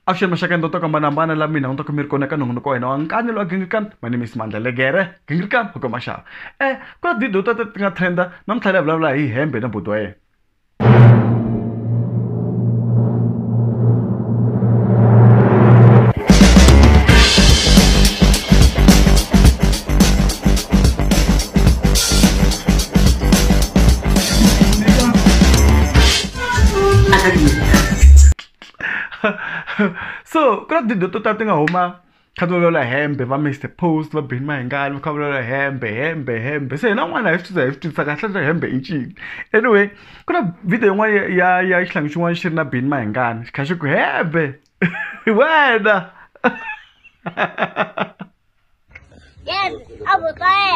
Avuxeni maxaka ndo toka manambana la mina ntoka mi ri kona ka nongonoko wa hina wa nkanyi lowa gingirikani my name is mandla legere gingirikani hoko maxava eh ku na tidio ta ti nga trenda namuntlha leyi vulavula hi hembe na buti wa yena so ku na tidyondzo to tala ti nga huma kha ti vulavula hembe va mister post va beni mahingani va kha vulavula hembe hembe hembe se hina n'wana hi swi tisa hi swi tisa kahle swa hembe i ncini anyway ku na video yin'wana ya ya xihlangi xin'wana xi ri na beni mahingani xi kha xi ku hembe wena Yes, I was there.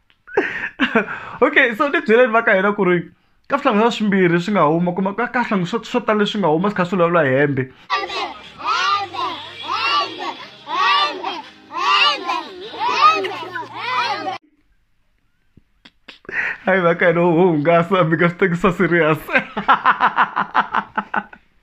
okay so ni byeleni va ka hina ku ri ka swihlangi swa swimbirhi swi nga huma kuma ka ka swihlangi swo swo tala leswi nga huma swi kha swi vulavula hembe hayi va ka hina ho hungasa mi ka swi tekisa serious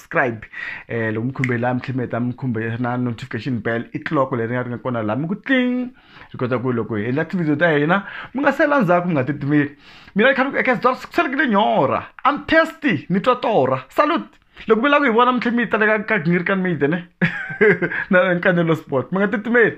subscribe eh loko mi khumbe laha mi tlhela mi heta mi khumbe na notification bell i clock leri nga ri nga kona laha mi ku tling ri kota ku loko hi endla tivhidiyo ta hina mi nga sela ndzhaku mi nga titimeli mina ni khani eka sdor sikuselekile nyora am testy ni twa torha salute loko mi lava ku hi vona mi tlhela mi yi taleka ka gingiri ka media ne na nkanelo sport mi nga titimeli